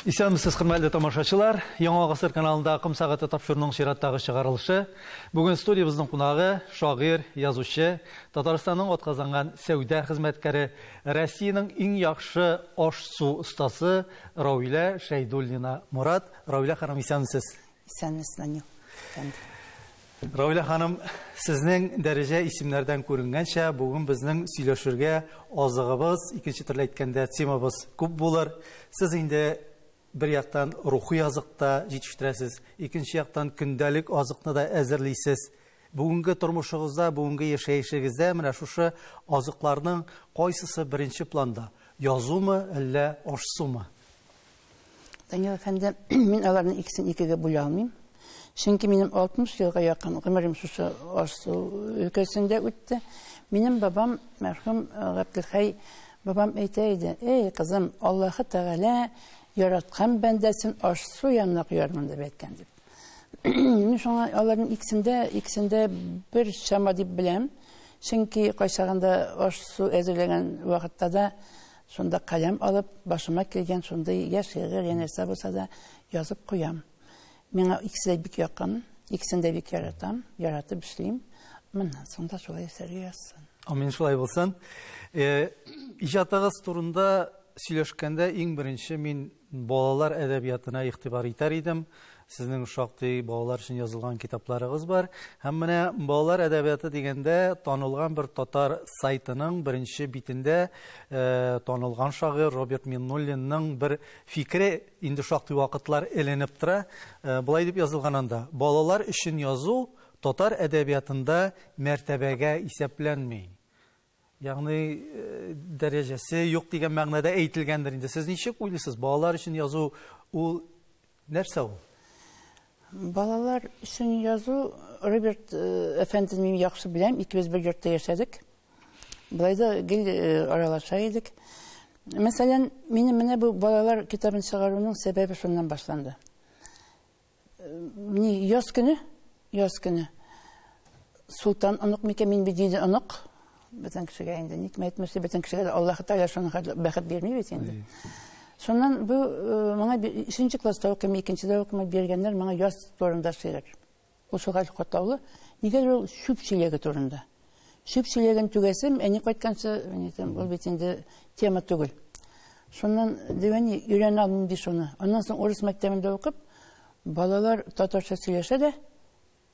Исәнмесез, хөрмәтле тамашачылар. Яңа гасыр каналында Акым сәгате тапшыруның чираттагы чыгарылышы. Бүген студиябезнең кунагы шагыйрь, язучы, Татарстанның атказанган сәүдә хезмәткәре Россиянең иң яхшы аш-су остасы Равилә Шәйдуллина Морат. Равилә ханым, исәнмесез? Исәнмесез, Данил әфәнде. Равилә ханым, сезнең дәрәҗә исемнәрдән күренгәнчә, бүген безнең сөйләшергә азыгыбыз, икенче төрле әйткәндә, темабыз күп булыр. Сез инде Бер яктан рухи азык та җитештерәсез, икенче яктан көндәлек азыкны да әзерлисез. Бүгенге тормышыгызда, бүгенге яшәешегездә менә шушы азыкларның кайсысы беренче планда, язумы, әллә аш-сумы? Данил әфәнде, мин аларның икесен икегә бүлә алмыйм. Чөнки минем 60 елга якын гомерем шушы аш-су өлкәсендә үтте. Минем бабам, мәрхүм Габделхәй бабам әйтә иде, «Эй, кызым, Аллаһы Тәгалә яраткан бәндәсен аш-су янына куярмын», дип әйткән дип. Мин шуңа аларның икесендә, икесендә бер чама дип беләм. Чөнки кайчагында аш-су әзерләгән вакытта да шунда каләм алып, башыма килгән шундый яшь шигырь, янәсе булса да язып куям. Миңа икесе дә бик якын, икесен дә бик яратам, яратып эшлим. Моннан соң да шулай эшләргә язсын. Амин шулай булсын. Э, Иҗатыгыз турында сөйләшкәндә иң беренче мин балалар әдәбиятына игътибар итәр идем. Сезнең шактый балалар өчен язылган китапларыгыз бар. Һәм менә балалар әдәбияты дигәндә танылган бер татар сайтының беренче битендә э, танылган шагыйрь Роберт Миннуллинның бер фикере Инде шактый вакытлар эленеп тора. Болай дип язылган анда, Балалар өчен язу татар әдәбиятында мәртәбәгә исәпләнми. Ягъни, дәрәҗәсе юк дигән мәгънәдә әйтелгәндер инде. Сез ничек уйлыйсыз, балалар өчен язу ул нәрсә ул? Балалар өчен язу Роберт э, әфәнден мин яхшы беләм, икебез бер йортта яшәдек. Болай да гел э, аралаша идек. Мәсәлән, минем менә бу балалар китабын чыгаруның сәбәбе шуннан башланды. Э, ни яз көне, яз көне Султан онык микән мин бит диде онык, Бөтен кешегә инде ник мәйтмешли, бөтен кешегә дә Аллаһ Тәгалә шуны бәхет бирми бит инде. Шуннан бу э, моңа 3нче класста укыйм, 2нчедә укыйм биргәннәр моңа яз турында шигырь. Ул шугар катлаулы, нигәдер ул чүп чиләге турында. Чүп чиләген түгәсем, әни кайтканчы, әнитем, ул бит инде тема түгел. Шуннан дигәни өйрәнә алмыйм ди шуны. Аннан соң урыс мәктәбендә укып, балалар татарча сөйләшә дә,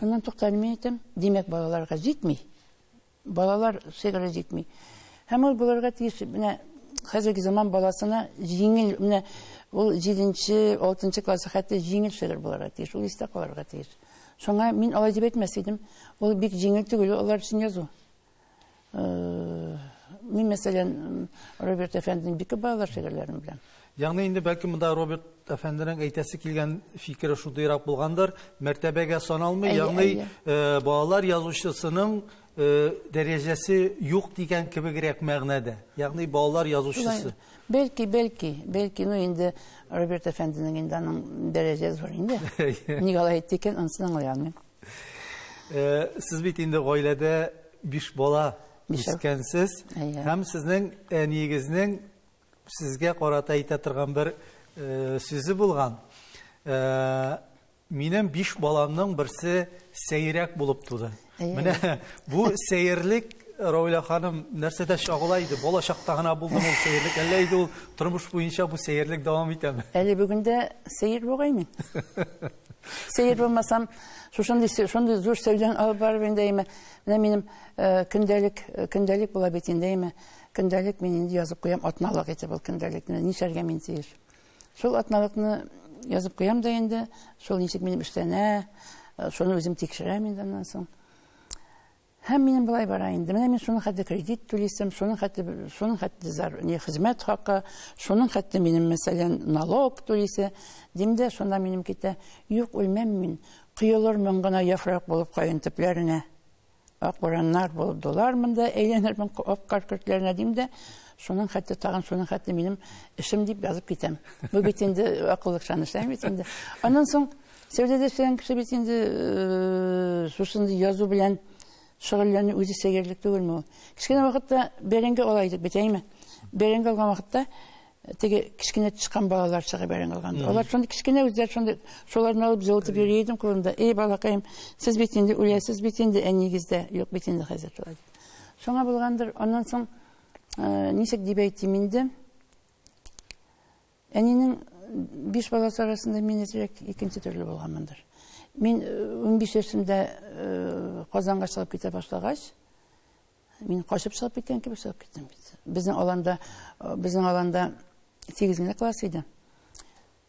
Аннан туктале мин әйтәм, димәк, балаларга җитми. Балалар шигыре җитми. Һәм ул булырга тиеш, менә хәзерге заман баласына җиңел, менә ул 7-нче, 6-нчы классы хәтта җиңел шигырь булырга тиеш, ул истә калырга тиеш. Шуңа мин алай дип әйтмәс идем. Ул бик җиңел түгел алар өчен язу. Мин, мәсәлән, Роберт әфәнденең бик күп балалар шигырьләрен беләм. Ягъни инде бәлки монда Роберт әфәнденең әйтәсе килгән фикере шудыйрак булгандыр, мәртәбәгә саналмый, ягъни э, балалар язучысының э, дәрәҗәсе юк дигән кебегрәк мәгънәдә. Ягъни балалар язучысы. Бәлки, бәлки, бәлки, ну инде Роберт әфәнденең инде аның дәрәҗәсе бар инде. Ник алай әйтте икән, анысын аңлый алмыйм. Э, сез бит инде гаиләдә биш бала үскәнсез һәм сезнең әниегезнең сезгә карата әйтә торган бер э, сүзе булган э, минем биш баламның берсе сәйрәк булып туды менә бу сәерлек Рауля ханым нәрсәдә чагыла иде? Бала чакта гына булды ул сәерлек, әллә иде ул тормыш буенча бу сәерлек дәвам итәме? Әле бүгендә сәер бугай мин. Сәер булмасам, шушындый шундый зур сәүдән алып барып инде әйме. Менә минем э, көндәлек э, көндәлек була бит инде әйме. Көндәлек мин инде язып куям атналык итеп ул көндәлекне. Нишәргә мин тиеш? Шул атналыкны язып куям да инде, шул ничек минем эшләнә, э, шуны үзем тикшерәм инде аннан соң. Һәм минем болай бара инде. Менә мин шуның хәтле кредит түлисем, шуның хәтле, шуның хәтле зар, не хезмәт хакы, шуның хәтле минем, мәсәлән, налог түлисе. Дим дә, шунда минем китә, юк, үлмәм мин, коелырмын гына яфрак булып каен төпләренә. Ак бураннар булып дулар монда, әйләнермен ак кар көртләренә, дим дә, шуның хәтле тагын, шуның хәтле минем эшем дип язып китәм. Бу бит инде акыллыкчан эшләми бит инде. Аннан соң Сәүдәдә эшләгән кеше бит инде шушындый язу белән шөгыльләнү үзе сәерлек түгелме ул? Кечкенә вакытта бәрәңге ала идек бит, әйме? Бәрәңге алган вакытта теге кечкенә тычкан балалар чыга бәрәңге алганда. Алар шундый кечкенә үзләр шундый шуларны алып җылытып йөри идем кулымда. Эй, балакаем, сез бит инде үләсез бит инде, ә нигездә юк бит инде хәзер шулай. Шуңа булгандыр, аннан соң ничек дип әйтим инде? Әнинең биш баласы арасында мин әзрәк икенче төрле булганмындыр. Мин унбиш яшемдә Казанга чыгып китә башлагач, мин качып чыгып киткән кебек чыгып киттем бит. Безнең аланда, безнең аланда 8 генә класс иде.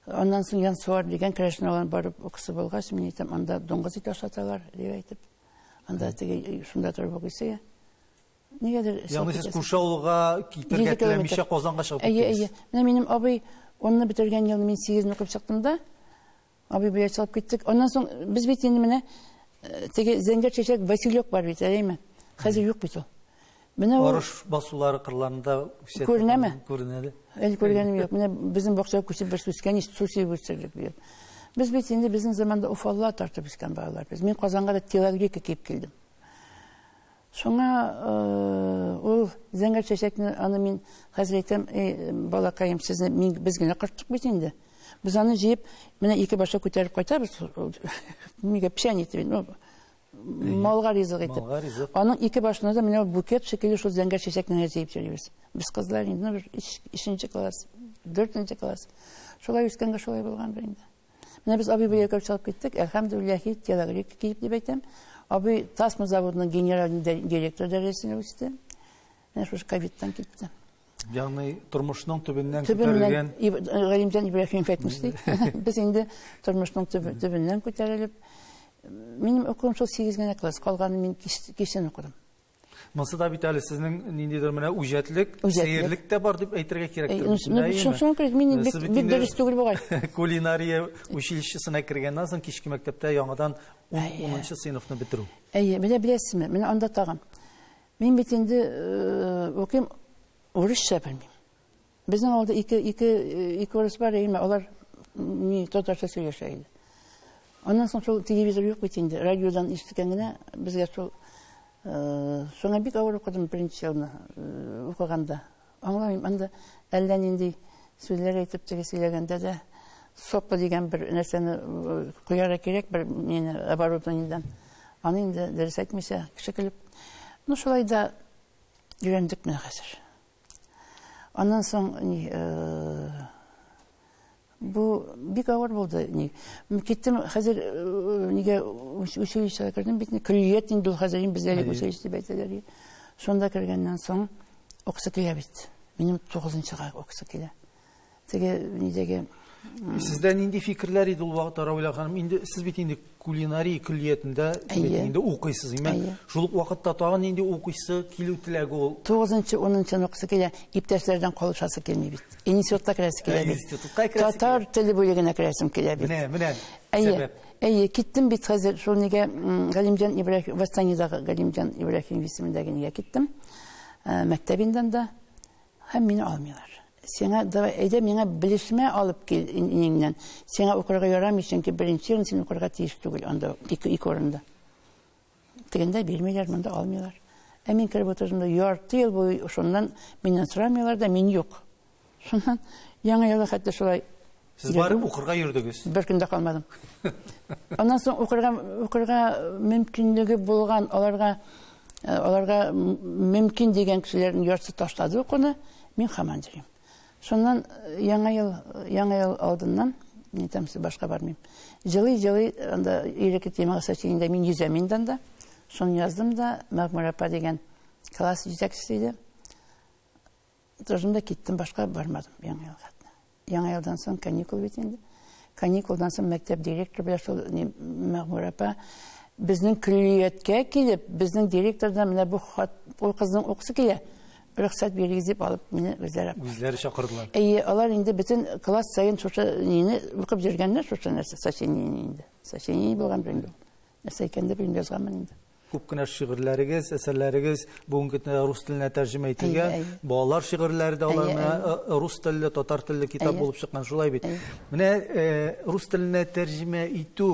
Аннан соң Янсуар дигән керәшен алан барып укысы булгач, мин әйтәм, анда дуңгыз ите ашаталар, дип әйтеп. Анда теге шунда торып укыйсы. Нигәдер Ягъни сез күрше авылга китергә теләмичә Казанга чыгып киттегез. Әйе, әйе. Менә минем абый 10-ны бетергән елны мин 8-не укып чыктым да, абый бия чыгып киттек. Аннан соң без бит инде менә э, теге зәңгәр чәчәк Василек бар бит, әйеме? Хәзер юк бит ул. Менә ул Арыш басулары кырларында үсә. Күренәме? Күренәде. Әле күргәнем юк. Менә безнең бакчага күчеп бер үскән ич су сибеп үстердек бит. Без бит инде безнең заманда уфалла тартып үскән балалар. Без мин Казанга да телогрейка киеп килдем. Шуңа ул зәңгәр чәчәкне аны мин хәзер әйтәм, эй, балакаем, сезне мин без генә кырттык бит инде. Без аны җыеп, менә ике башлы күтәреп кайтабыз. Мигә печән итеп, ну, малга ризык итеп. Малга ризык. Аның ике башына да менә букет шикелле шул зәңгәр чәчәкне генә җыеп йөрибез. Без кызлар инде, ну, бер ишенче класс, дүртенче класс. Шулай үскәнгә шулай булгандыр инде. Менә без абый белән чыгып киттек. Әлхәмдүлилләһ, һич телогрейка киеп дип әйтәм. Абый Тасма заводының генераль директоры дәрәҗәсенә үсте. Менә шушы ковидтан китте. Ягъни тормышның төбеннән күтәрелгән Галимҗан Ибраһимов әйтмешли. Без инде тормышның төбеннән күтәрелеп, минем укуым шул 8 генә класс, калганын мин кичен укыдым. Монсы да бит әле сезнең ниндидер менә үҗәтлек, сәерлек тә бар дип әйтергә кирәк. Шуңа күрә мин бик бик дөрес түгел бугай. Кулинария училищесына кергәннән соң кичке мәктәптә яңадан 10 сыйныфны бетерү. Әйе, менә беләсезме, менә анда тагын. Мин бит инде уким урысча белмим. Безнең авылда ике, ике, ике урыс бар, әйме, алар ми татарча сөйләшә иде. Аннан соң шул телевизор юк бит инде, радиодан ишеткән генә безгә шул шуңа бик авыр укыдым беренче елны укыганда. Аңламыйм, анда әллә нинди сүзләр әйтеп теге сөйләгәндә дә соппа дигән бер нәрсәне куярга кирәк бер мені оборудованиедән. Аны инде дөрес әйтмичә, кеше көлеп. Ну шулай да өйрәндек менә хәзер. Аннан соң ни бу бик авыр булды ни киттем хәзер нигә училищега кердем бит көллият инде ул хәзер бездә училище дип әйтәләр шунда кергәннән соң укысы килә бит минем тугызынчыга укысы килә теге нидәге Сездә нинди фикерләр иде ул вакытта Равилә ханым? Инде сез бит инде кулинария көллиятендә инде укыйсыз. Имә шул ук вакытта тагын нинди укыйсы килү теләге ул? 9-нчы, 10-нчы укыйсы килә, иптәшләрдән калышасы килми бит. Институтка керәсе килә бит. Институтка керәсе. Татар теле бүлегенә керәсем килә бит. Менә, менә. Әйе. Әйе, киттем бит хәзер шул нигә Галимҗан Ибраһим, Вастанидагы Галимҗан Ибраһим исемендәге нигә киттем. Мәктәбендән дә һәм мине алмыйлар. Сиңа, давай, әйдә миңа белешмә алып кил инеңнән. Сиңа укырга ярамый, чөнки беренче ел син укырга тиеш түгел анда, ике, ике урында. Дигәндә бирмиләр, монда алмыйлар. Ә мин кереп утырдым да ярты ел буе шуннан миннән сорамыйлар да, мин юк. Шуннан яңа елга хәтта шулай Сез барып укырга йөрдегез? Бер көндә калмадым. Аннан соң укырга укырга мөмкинлеге булган аларга э, аларга мөмкин дигән кешеләрнең яртысы ташлады укуны, мин хаман йөрим. Шуннан э, яңа ел яңа ел алдыннан не там башка бармыйм. Җылы җылы анда иреке темага сәченде мин йөзәм инде анда. Шуны яздым да Мәгмүр апа дигән класс җитәкчесе иде. Тордым да киттем, башка бармадым яңа ел хатына. Яңа елдан соң каникул бит инде. Каникулдан соң мәктәп директоры белән шул Мәгъмүр апа безнең көллияткә килеп, безнең директордан менә бу хат, ул кызның укысы килә, рөхсәт бирегез дип алып, мине үзләре Үзләре чакырдылар. Әйе, алар инде бөтен класс саен шушы нине укып йөргәннәр, шушы нәрсә сочинение инде. Сочинение булган инде. нәрсә икән дип уйлап язганмын инде күп кенә шигырьләрегез әсәрләрегез бүгенге көндә рус теленә тәрҗемә ителгән балалар шигырьләре дә алар менә э, э, рус телле татар телле китап булып чыккан шулай бит менә э, рус теленә тәрҗемә итү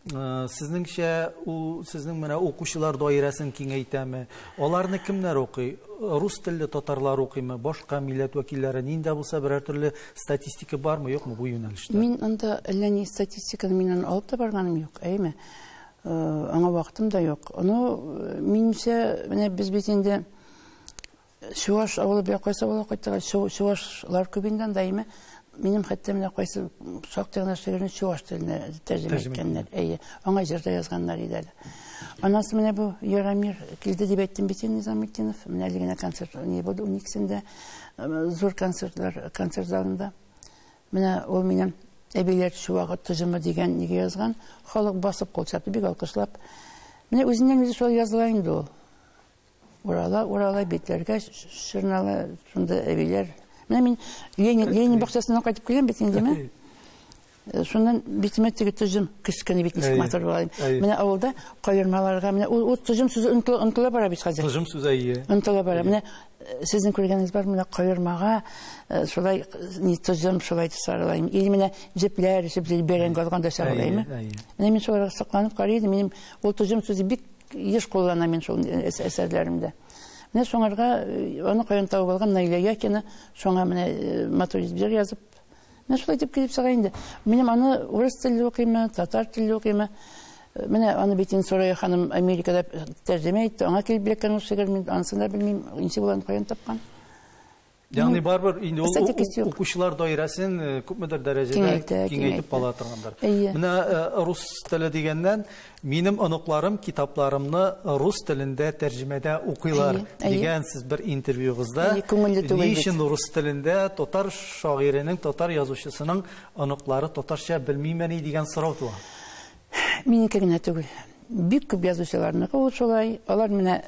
сезнеңчә ул сезнең менә укучылар даирәсен киңәйтәме аларны кемнәр укый рус телле татарлар укыймы башка милләт вәкилләре нинди булса берәр төрле Статистика бармы, юкмы бу юнәлештә? Мин анда әллә ни статистиканы миннән алып та барганым юк, әйме. Э, аңа вакытым да юк. Ну, э, минемчә, менә без бит инде Чуваш авылы бер кайсы авылга кайттык, чувашлар күбендән да әйме. Минем хәтта менә кайсы шактый гына шигырьне чуваш теленә тәрҗемә иткәннәр. Әйе, аңа җыр да язганнар иде әле. Анасы менә бу Ярамир килде дип әйттем бит инде Низаметдинов. Менә әле генә концерт не булды, униксендә. Зур концертлар, концерт залында. Менә ул минем әбиләр чуагы тыжымы дигән неге язган. Халык басып кул чапты, бик алкышлап. Менә үзеннән үзе шулай языла инде ул. Урала, урала битләргә шырнала, шунда әбиләр. Менә мин Ленин, Ленин бакчасына кайтып килгән бит инде, Э, шуннан битемә теге төзем кескене бит ничек матур була менә авылда каермаларга менә ул төзем сүзе онтыла бара бит хәзер төзем сүзе әйе онтыла бара менә э, сезнең күргәнегез бар менә каермага э, шулай не төзем шулай сарылайм или менә җепләр өчеп бәрән газганда сарылайм менә мин шуларга сокланып карый идем минем ул төзем сүзе бик еш куллана мин шул әсәрләремдә менә шуңарга аны каян табып алган наилә якина шуңа менә матур җыр язып Менә шулай итеп килеп чыга инде. Минем аны урыс телле укыймы, татар телле укыймы? Менә аны бит инде Сурая ханым Америкада тәрҗемә итте. Аңа килеп эләккән ул шигырь, мин анысын да белмим, ничек ул аны каян тапкан. Ягъни барыбер инде ул Эстетикасы юк. укучылар даирәсен э, күпмедер дәрәҗәдә Киңәйтә, киңәйтеп киңәйтә. ала торгандыр. Әйе. Менә э, рус теле дигәннән, Минем оныкларым китапларымны рус телендә тәрҗемәдә укыйлар, дигән сез бер интервьюгызда. Ни өчен рус телендә татар шагыйренең, татар язучысының оныклары татарча белмимени дигән сорау туа? Минеке генә түгел. Бик күп язучыларныкы ул шулай. Алар менә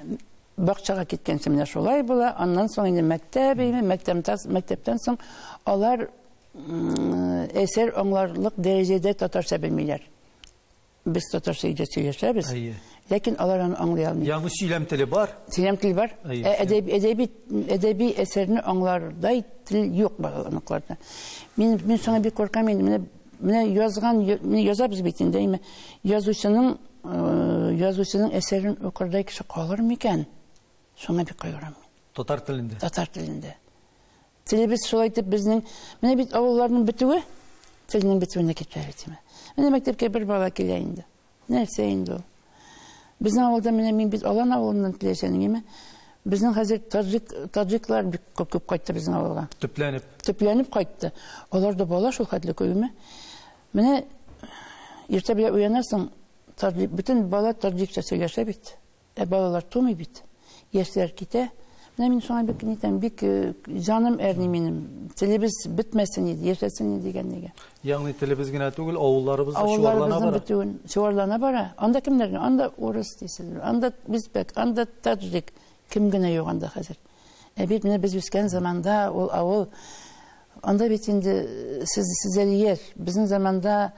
бакчага киткәнче менә шулай була. Аннан соң инде мәктәп, мәктәптән соң алар әсәр аңларлык дәрәҗәдә татарча белмиләр. Без татарча өйдә сөйләшәбез. Әйе. Ләкин алар аны аңлый алмый. Ягъни сөйләм теле бар. Сөйләм теле бар. Ә әдәби әдәби әдәби әсәрне аңлардай тел юк балаларныкыларда. Мин мин соңа бик куркам инде. Менә менә язган язабыз бит инде. Әйме язучының э, язучының әсәрен укырдай кеше калыр микән? Соңа бик кайгырам. Татар телендә. Татар телендә. Телебез шулай итеп безнең, менә бит авылларның бетүе телнең бетүенә китерә бит. Менә мәктәпкә бер бала килә инде. Нәрсә инде ул? Безнең авылда менә мин бит Алан авылыннан киләчән, әйеме? Безнең хәзер таҗик таҗиклар бик күп күп кайтты безнең авылга. Төпләнеп. Төпләнеп кайтты. Алар да бала шул хәтле күпме? Менә иртә белән уянасың, таҗик бөтен бала таҗикча сөйләшә бит. Ә балалар тумый бит. Яшьләр китә. Менә мин шуңа бик нитәм, бик э, җаным әрни минем. Телебез бетмәсен иде, яшәсен иде дигәнлеге. Ягъни телебез генә түгел, авылларыбыз да чуарлана бара. бетүен чуарлана бара. Анда кемнәр? Анда урыс дисез, анда үзбәк, анда таджик. Кем генә юк анда хәзер. Ә бит менә без үскән заманда ул авыл Анда бит инде сез сез әле яшь. Безнең заманда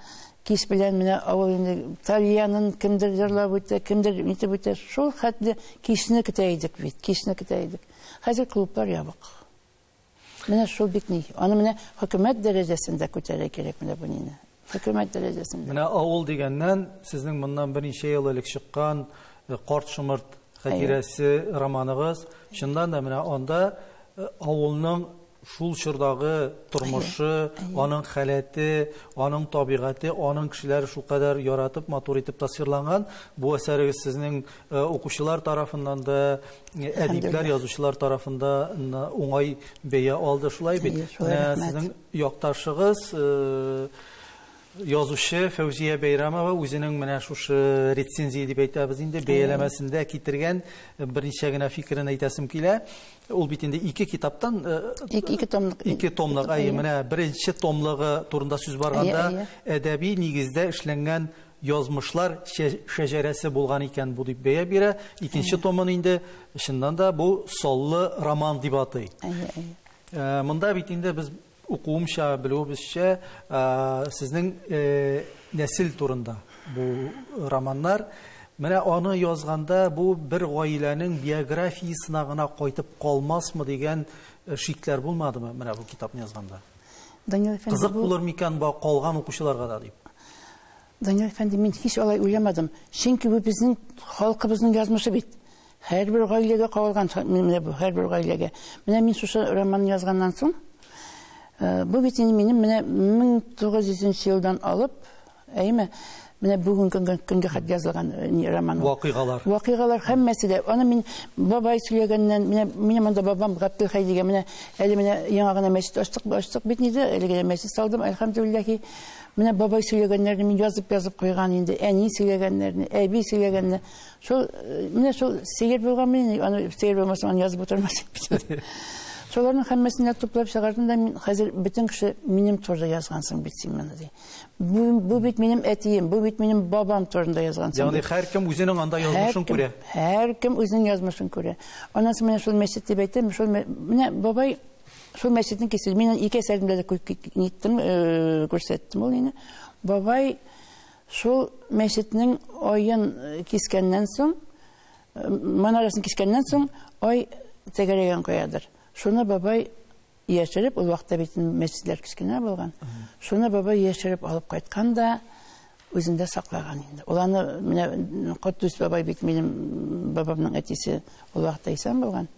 кич белән менә авыл инде тальянын кемдер җырлап үтә, кемдер итеп үтә. Шул хәтле кичне көтә идек бит, кичне көтә идек. Хәзер клублар ябык. Менә шул бит ни. Аны менә хөкүмәт дәрәҗәсендә күтәрә кирәк менә бу нине. Хөкүмәт дәрәҗәсендә. Менә авыл дигәннән, сезнең моннан берничә ел элек чыккан э, Карт шомырт хәтирәсе романыгыз, чыннан да менә анда э, авылның шул чордагы тормышы, аның халәте, аның табигате, аның кешеләре шулкадәр яратып, матур итеп тасвирланган. Бу әсәрегез сезнең э, укучылар тарафыннан да, э, әдипләр, язучылар тарафында уңай бәя алды шулай бит. Менә сезнең Якташыгыз, язучы Фәүзия Бәйрәмова үзенең менә шушы рецензия дип әйтәбез инде, бәяләмәсендә китергән берничә генә фикерен әйтәсем килә. Ул бит инде ике китаптан ике томлык. Ике томлык. Әйе, менә беренче томлыгы турында сүз барганда, әдәби нигездә эшләнгән язмышлар шәҗәрәсе булган икән бу дип бәя бирә. Икенче томын инде чыннан да бу саллы роман дип атый. Әйе, әйе. Монда бит инде без укуымча, белүебезчә, сезнең нәсел турында бу романнар. Менә аны язганда бу бер гаиләнең биографиясенә гына кайтып калмасмы дигән шикләр булмадымы менә бу китапны язганда? Данил әфәнде, бу... Кызык булыр микән бу калган укучыларга да дип. Данил әфәнде, мин һич алай уйламадым. Чөнки бу безнең халкыбызның язмышы бит. Һәрбер гаиләгә кагылган менә бу, һәрбер гаиләгә. Менә мин шушы романны язганнан соң, э, бу бит инде минем менә 1900 елдан алып, әйме, менә бүгенге көнгә хат язылган э, роман. Вакыйгалар. Вакыйгалар һәммәсе дә. Аны мин бабай сөйләгәннән, менә минем монда бабам Габделхәй дигән, менә әле менә яңа гына мәчет ачтык, ачтык бит инде, әле генә мәчет салдым, әлхәмдүлилләһи. Менә бабай сөйләгәннәрне мин язып-язып куйган инде. Әни сөйләгәннәрне, әби сөйләгәнне. Шул э, менә шул сигер булган мин, аны сигер булмаса аны язып утырмас идем. Шуларның һәммәсен дә туплап чыгардым да мин хәзер бөтен кеше минем турында язгансың бит син моны ди. Бу, бу бит минем әтием, бу бит минем бабам турында язгансың. Ягъни һәркем үзенең анда язмышын күрә. Һәркем үзенең язмышын күрә. Анасы менә шул мәчет дип әйтәм, шул менә бабай Шул мәчетнең кисү, мин ике әсәремдә дә ниттем, э, күрсәттем ул ины. Бабай шул мәчетнең оен кискәннән соң, э, манарасын кискәннән соң, ой тәгәрәгән каядыр. Шуны бабай яшереп, ул вакытта бит мәчетләр кечкенә булган. Шуны бабай яшереп алып кайткан да үзендә саклаган инде. Ул аны менә Котдус бабай бит минем бабамның әтисе, ул вакытта исән булган.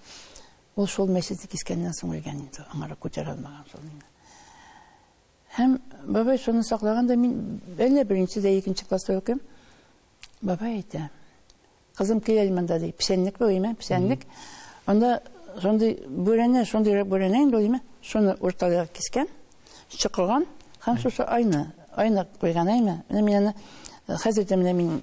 Ул шул мәчетне кискәннән соң үлгән инде, аңарак күтәрә алмаган шул инде. Һәм бабай шуны саклаган да мин әллә беренче дә икенче класста укыйм. Бабай әйтә, кызым киләл монда ди, печәнлек бу име, печәнлек. Анда шундый бүрәнә, шундый бүрәнә инде ул име, шуны урталыгы кискән, чыкылган һәм шушы айны айны куйган әйме менә мин аны э, хәзер дә менә мин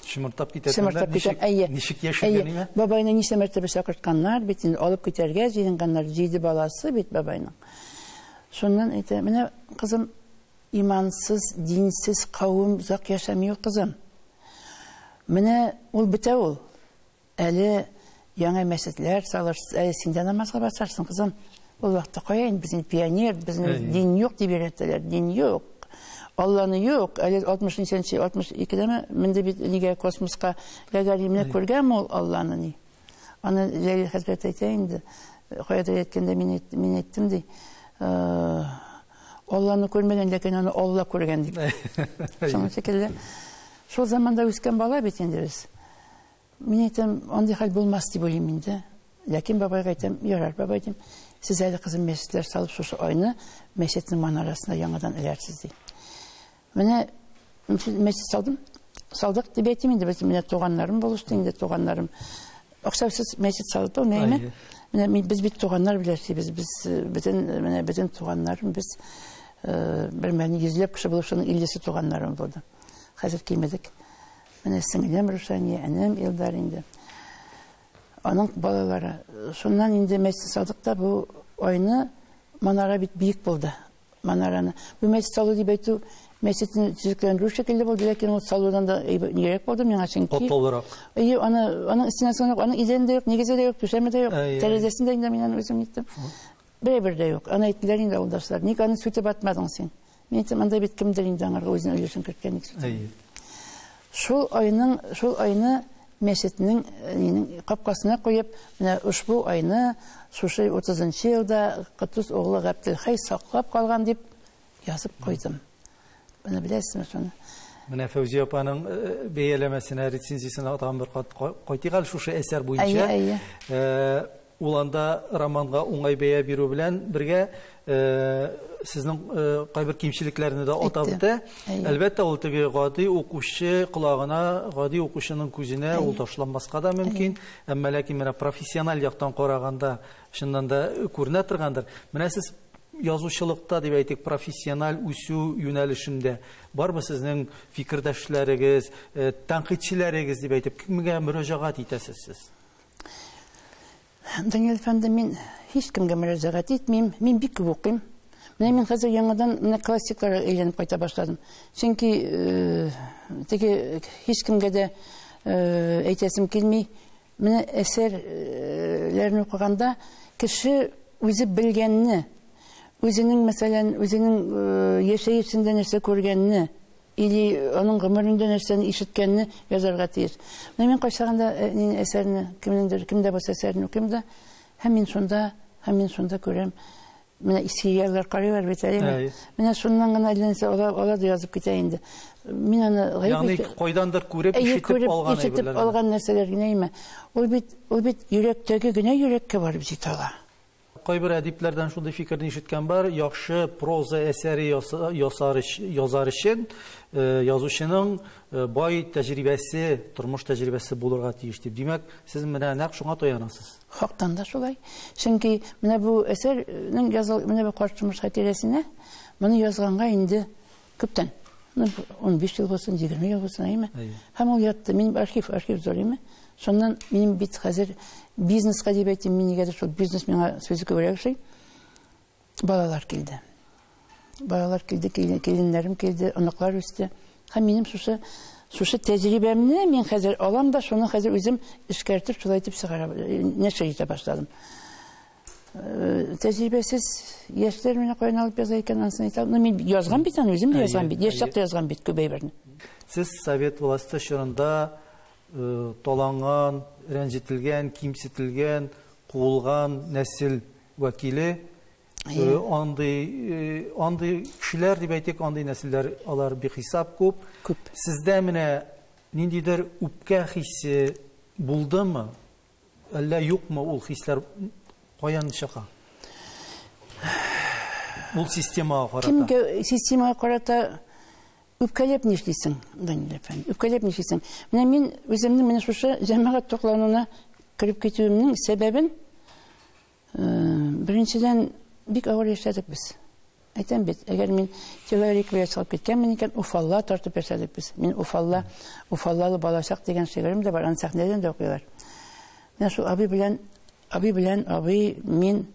шымыртап китә шымыртап китә әйе ничек яшәгәнеңә бабайны ничә мәртәбә чакыртканнар бит инде алып китәргә җыенганнар җиде баласы бит бабайның шуннан әйтә менә кызым имансыз динсез кавым озак яшәми ул кызым менә ул бетә ул Әле яңа мәчетләр салырсыз, әле син дә намазга басарсың, кызым. Ул вакытта кая инде без пионер, безнең дин юк дип өйрәтәләр, дин юк. Алланы юк, әле 60 нченче 62-дәме менде бит нигә космоска Гагаримне күргән ул Алланы ни. Аны Ләйлә хәзрәт әйтә инде, каядыр әйткәндә мин мин әйттем ди. Э, Алланы күрмәгән, ләкин аны Алла күргән дип. Шуның шикелле. Шул заманда үскән бала бит инде без. Мин әйтәм, андый хәл булмас дип уйлыйм инде. Ләкин бабайга әйтәм, ярар, бабай дим, сез әле кызым мәчетләр салып шушы айны мәчетнең манарасына яңадан эләрсез ди. Менә мәчет салдым, салдык дип әйтим инде без менә туганнарым булышты инде туганнарым. Акчасыз мәчет салып алмыймы? Менә без бит туганнар белән эшлибез, без э, бөтен э, менә бөтен туганнарым без э, бер мәлне йөзләп кеше булып шуның 50-се туганнарым булды. Хәзер кимедек. Менә сеңлем Рушания, энем Илдар инде. Аның балалары. Шуннан инде Мәчет Садыкта бу айны манара бит биек булды. Манараны. Бу мәчет салу дип әйтү мәчетне төзекләндерү шикелле булды, ләкин ул салудан да нирәк булды миңа чөнки. Катлаулырак. Әйе, аны аның стенасы юк, аның идәне дә юк, нигезе дә юк, түшәме дә юк, тәрәзәсен дә инде мин аны үзем иттем. Бер-бер дә юк. Аны әйттеләр инде авылдашлар. Ник аны сүтеп атмадың син? Мин әйтәм, анда бит кемдер инде аңарга үзенең өлешен керткән бит. Әйе. Шул айның, шул айны мәчетнең э, капкасына куеп, менә ошбу айны шушы 30 елда Котдус оглы Габделхәй саклап калган дип язып куйдым. Менә беләсезме шуны? Менә Фәүзия апаның э, э, бәяләмәсенә, рецензиясенә тагын бер кат кайтыйк әле шушы әсәр буенча. Әйе, әйе. Ул анда романга уңай бәя бирү белән бергә, сезнең кайбер кимчелекләрне дә атап үтә. Әлбәттә, ул теге гади укучы колагына, гади укучының күзенә ул ташланмаска да мөмкин. Әмма ләкин менә профессиональ яктан караганда, чыннан да күренә торгандыр. Менә сез язучылыкта, дип әйтик, профессиональ үсү юнәлешендә бармы сезнең фикердәшләрегез, тәнкыйтьчеләрегез, дип әйтик, кемгә мөрәҗәгать итәсез сез? Данил әфәнде, мин һич кемгә мөрәҗәгать итмим, мин бик күп укыйм. Менә мин хәзер яңадан менә классикларга әйләнеп кайта башладым. Чөнки э, теге һич кемгә дә э, әйтәсем килми. Менә әсәрләрне укыганда кеше үзе белгәнне, үзенең мәсәлән, үзенең э, яшәешендә нәрсә күргәнне, Или аның гомерендә нәрсәне ишеткәнне язарга тиеш. Менә мин кайчагында э, нине әсәрне, кемнеңдер, кемдә булса әсәрне укыйм да, һәм мин шунда, һәм мин шунда күрәм. Менә иске яллар карыйлар бит әлеме? Әй. Менә шуннан гына әллә нәрсә ала, ала да язып китә инде. Мин аны гаеп Ягъни итә- кайдандыр күреп, Әйе, ишетеп күреп, алган ишетеп әйберләр. генә. алган нәрсәләр генә име? Ул бит, ул бит йөрәктәге генә йөрәккә барып җитә ала. Кайбер әдипләрдән шундый фикерне ишеткән бар, яхшы проза әсәре ясар, язар өчен язучының бай тәҗрибәсе, тормыш тәҗрибәсе булырга тиеш дип. Димәк, сез менә нәкъ шуңа таянасыз. Хактан да шулай. Чөнки менә бу әсәрнең языл, менә бу карт тормыш хатирәсенә моны язганга инде Күптән. Ну, 15 ел булсын, 20 ел булсын, әйме? Һәм ул ятты. Минем архив, архив зур, әйме? Шуннан минем бит хәзер бизнеска дип әйтим, мин нигәдер шул бизнес миңа сүзе күбрәк ошый. Балалар килде. Балалар килде, киленнәрем килде, оныклар үсте. Һәм минем шушы шушы тәҗрибәмне мин хәзер алам да, шуны хәзер үзем эшкәртеп, шулай итеп чыгара, нәшер итә башладым. Э, тәҗрибәсез яшьләр менә каян алып яза икән анысын әйтә алмыйм мин язган бит аны үзем дә язган бит яшь чакта язган бит күп әйберне сез совет власте чорында э, таланган рәнҗетелгән кимсетелгән куылган нәсел вәкиле э, андый андый кешеләр дип әйтик андый нәселләр алар бихисап күп күп сездә менә ниндидер үпкә хисе булдымы Әллә юкмы ул хисләр каян чыга? Ул системага карата. Кемгә системага карата үпкәләп нишлисең, Данил әфәнде? Үпкәләп нишлисең? Менә мин үземне менә шушы җәмәгать туклануына кереп китүемнең сәбәбен Беренчедән, бик авыр яшәдек без. Әйтәм бит, әгәр мин человек белән чыгып киткәнмен икән, Уфалла тартып яшәдек без. Мин Уфалла, Уфаллалы балачак дигән шигырем дә бар, аны сәхнәдән дә укыйлар. Менә шул абый белән, абый белән, абый, мин,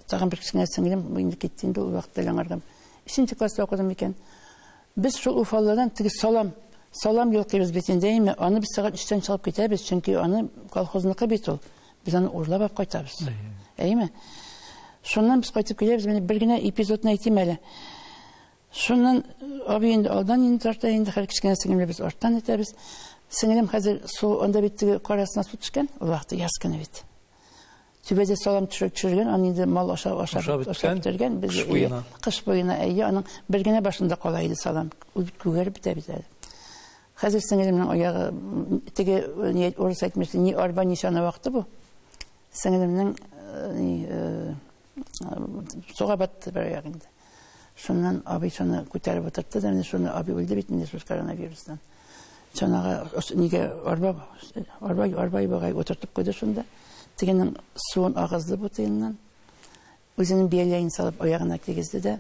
тагын бер кечкенә сеңлем, инде китте инде ул вакытта яңарган. Өченче класста укыдым икән. Без шул Уфалладан теге салам, салам йолкыйбыз бит инде, әйме, аны без сәгать өчтән чыгып китәбез, чөнки аны колхозныкы бит ул. Без аны урлап алып кайтабыз. Әйеме? Шуннан без кайтып киләбез, менә бер генә эпизодны әйтим әле. Шуннан абый инде алдан инде тарта, инде хәл кечкенә сеңлемне без арттан итәбез. Сеңлем хәзер су анда бит теге карасына су төшкән, ул вакытта яз көне бит. Түбәдә салам төшереп төшергән, аны инде мал аша аша ашап бетергән. Без кыш буена әйе, аның бер генә башында кала иде салам. Ул бит күгәреп бетә бит әле. Хәзер сеңелемнең аягы, теге ни урыс әйтмешли, ни арба, ни чана вакыты бу. Сеңелемнең суга батты бер аяк инде. Шуннан абый шуны күтәреп утыртты да, менә шуны абый үлде бит инде шул коронавирустан. Чанага нигә арба, арба, арба ибагай утыртып куйды шунда. Тегенең суын агызды бу тыеннан. Үзенең бияләен салып аягына тигезде дә,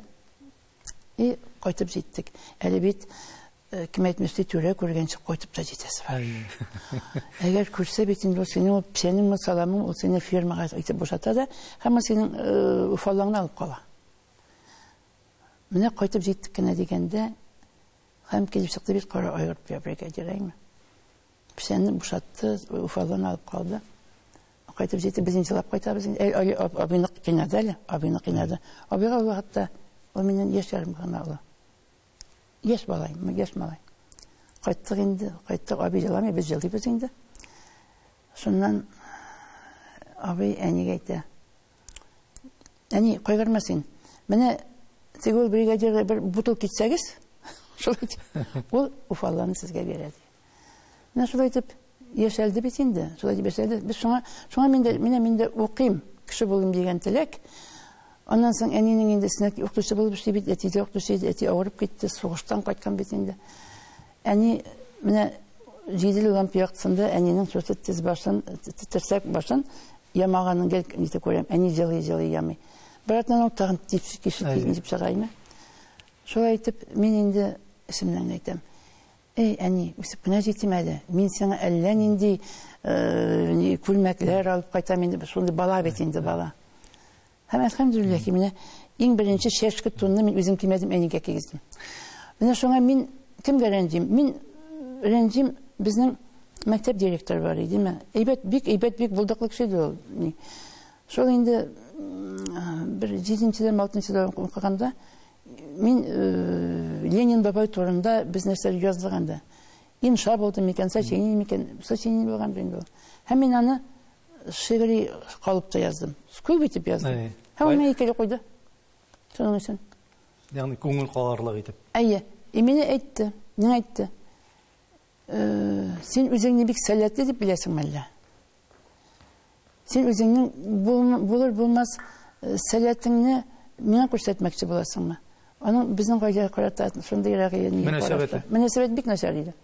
И, кайтып җиттек. Әле бит, э, кем әйтмешли, түрә күргәнче кайтып та җитәсе бар. Әгәр күрсә бит инде ул синең ул печәнең ме, саламың, ул сине фермага итеп бушата да, һәм ул синең э, уфаллаңны алып кала. Менә кайтып җиттек кенә дигәндә, һәм килеп чыкты бит кара айгыр бригадир, әйме? Печәнне бушатты, Уфадан алып калды. Кайтып җитеп, без инде елап кайтабыз. Әй, әй, абыйны кыйнады әле, абыйны кыйнады. Абыйга ул вакытта ул миннән яшь ярым гына олы. Яшь малай, яшь малай. Кайттык инде, кайттык, абый еламый, без елыйбыз инде. Шуннан абый әнигә әйтә. Әни, кайгырма син. Менә теге ул бригадирга бер бутылка итсәгез, шулай ул уфалланы сезгә бирә ди. Менә шулай итеп яшәлде бит инде. Шулай итеп яшәлде. Без шуңа, шуңа мин дә, менә мин дә укыйм, кеше булыйм дигән теләк. Аннан соң әнинең инде өстенә укытучы булып эшли бит, әти дә укытучы иде, әти авырып китте, сугыштан кайткан бит инде. Әни менә җиделе лампа яктысында әнинең шушы тез башын, терсәк башын ямаганын гел нитеп күрәм. Әни җылый-җылый ямый. Бератнан ул тагын типсик кишеп килеп чыгаймы? Шулай итеп, мин инде исемнән әйтәм. Әй, әни, үсеп кенә җитим әле. Мин сиңа әллә нинди күлмәкләр алып кайтам инде. Шундый бала бит инде бала. Һәм әлхәмдүлилләһ ки, менә иң беренче чәшке тунны мин үзем кимәдем, әнигә кигездем. Менә шуңа мин кемгә рәнҗим? Мин рәнҗим безнең мәктәп директоры бар иде, ме? Әйбәт, бик әйбәт, бик булдыклы кеше иде ул. Шул инде бер 7-дән 6-дән укыганда Мин э, Ленин бабай турында без нәрсәләр яздык инде. Инша булды микән, сочинение микән, сочинение булган бит инде. Һәм мин аны шигъри калыпта яздым. Күп итеп яздым. Һәм аны икеле куйды. Шуның өчен. Ягъни күңел каларлык итеп. Әйе. И мине әйтте. Мин әйтте. Син үзеңне бик сәләтле дип беләсең мәллә? Син үзеңнең булыр булмас сәләтеңне миңа күрсәтмәкче буласыңмы? Аның безнең гаилә карата шундый рәгыйне. Мөнәсәбәт. Мөнәсәбәт бик начар иде.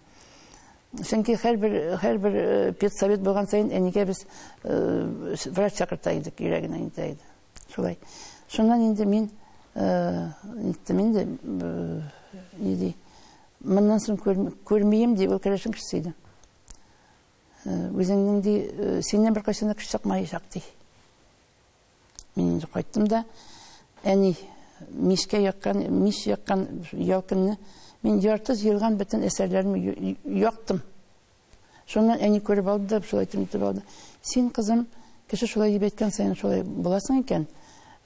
Чөнки һәрбер һәрбер педсовет булган саен әнигә без врач чакырта идек, йөрәгенә интә иде. Шулай. Шуннан инде мин иттем инде. Ни ди? Моннан соң күрмием, ди, ул кәләшен кешесе иде. Үзеңнең, ди, синнән бер кайсына кеше чыкмаячак, ди. Мин инде кайттым да, әни, мишкә яккан, миш яккан ялкынны мин ярты җыелган бөтен әсәрләрне яктым. Шуннан әни күреп алды да, шулай итеп итеп алды. Син, кызым, кеше шулай дип әйткән саен шулай буласың икән,